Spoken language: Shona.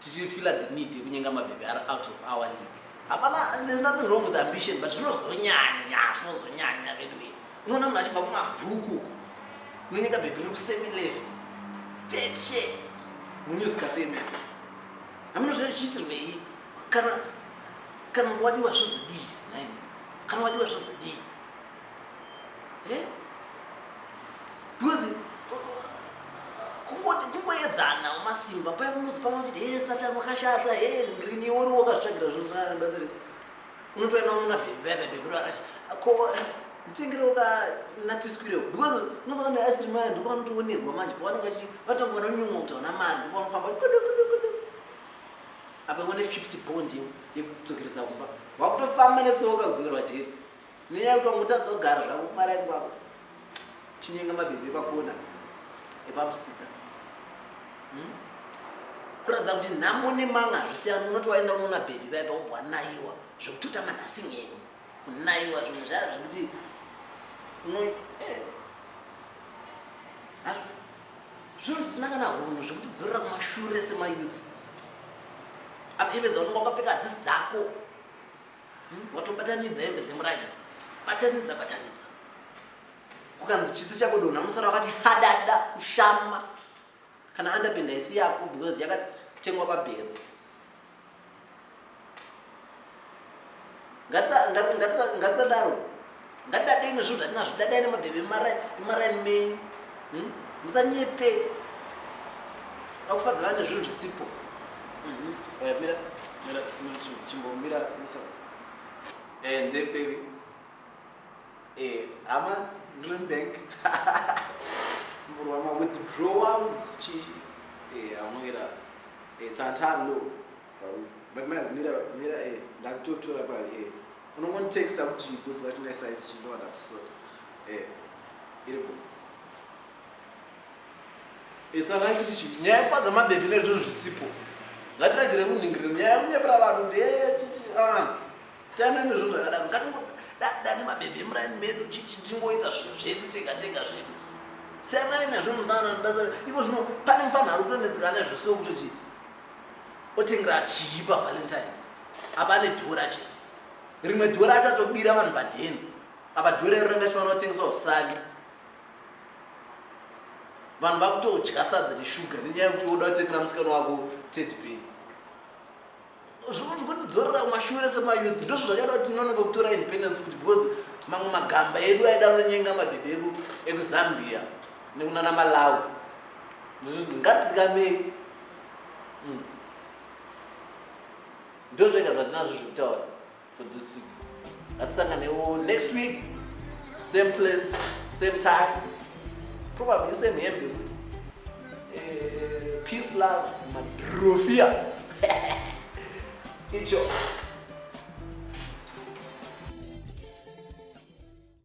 tichifila the need yekunyenga mabhebhi ari out of our league hapana there's nothing wrong with ambition but zvinozonyanya zvinozonyanya veduwe unoona munhu achibva kumabhuku unonyeka bhebhi riri kusemi level tetshe munews cafe man hamuna zvachiitirwei kana kana wadiwa zvozodii naini kana wadiwa zvozodii eh? because kungoedzana umasimba pai munozi pamwe uchiti he satani wakashata he ngrini uri wakazvagira zvosanana basa rese unotoenda unoona bhebhebhebhebhero akati ko nditengerewo ka natiswirewo because unozoona ice cream aya ndipo vanotoonerwa manje pavanenge vachi vatanga vanonyumwa kuti hauna mari ndipo vanofamba kudu kudu kudu apa ione fifty bond yekudzokeresa kumba wakutofamba netsoka kudzokerwa dheri nenyaya yekuti wangotadza kugara zvako kumaraini kwako chinyenga mabhebhi epakona epamusika hmm? kuratidza kuti nhamo nemanga hazvisiyana unoti waenda unoona bhebhi vaya pakubva wanaiwa zvekutotama nhasi nyenyu kunaiwa zvimwe zvaya zvekuti uno eh, zvinhu zvisina kana hunhu zvekuti dzorera kumashure semayouth apevedza unenge wakapfeka dzisi dzako hmm? watobatanidza hembe dzemuraini batanidza batanidza kukanzi chisi chako donha musara wakati hadada kushama kana andapinda isi yako because yakatengwa pabhero ngatisadaro ngadadei nezvinhu zvatinazvo dadai nemabhebe imaraini menyu hmm? musanyepe akufadza vane zvinhu zvisipo mhm. mira mira chimbomira musa eh, ndeperi eh, hamas dream bank murwama withdrawals chii eh, amwira tantalo but mira mira ndakutotora pari unongonditexta kuti booth rati ndaisaizi chindovada kusota eh iri bo isaraiti eh, chi nyaya yekufadza mabhebhi nezvinhu zvisipo ngatiragire kunhingirira nyaya yekunyepera vanhu kuti eh, ah, siyana nezvinhu zvakadaro ngatingodadani mabhebhi emuraini medu tingoita zvinhu zvedu tega tega zvedu siyanai nezvinhu ndana ndasa iko zvino pane mufanhu ari kutonetsekana nezvosiwo kutoti Otengera chii pa Valentine's? Apa ane dhora chete. Rimwe dhora achatobira vanhu padheni. Apa dhora iro ranga chifanira kutengeswa usavi. Vanhu vakutodya sadza neshuga nenyaya yekuti woda kutengera musikana wako Teddy Bear. Zvokutidzorera kumashure sema youth ndozvo zvakaita kuti tinonoka kutora independence futi because mamwe magamba edu aida anonyenga mabhebhe edu ekuZambia nekunana Malawi. Ngatizikamei ndozvega zvatinazvo zvekutaura for this week ngatisanganewo next week same place same time probably same hembe futi eh, peace love madrofia icho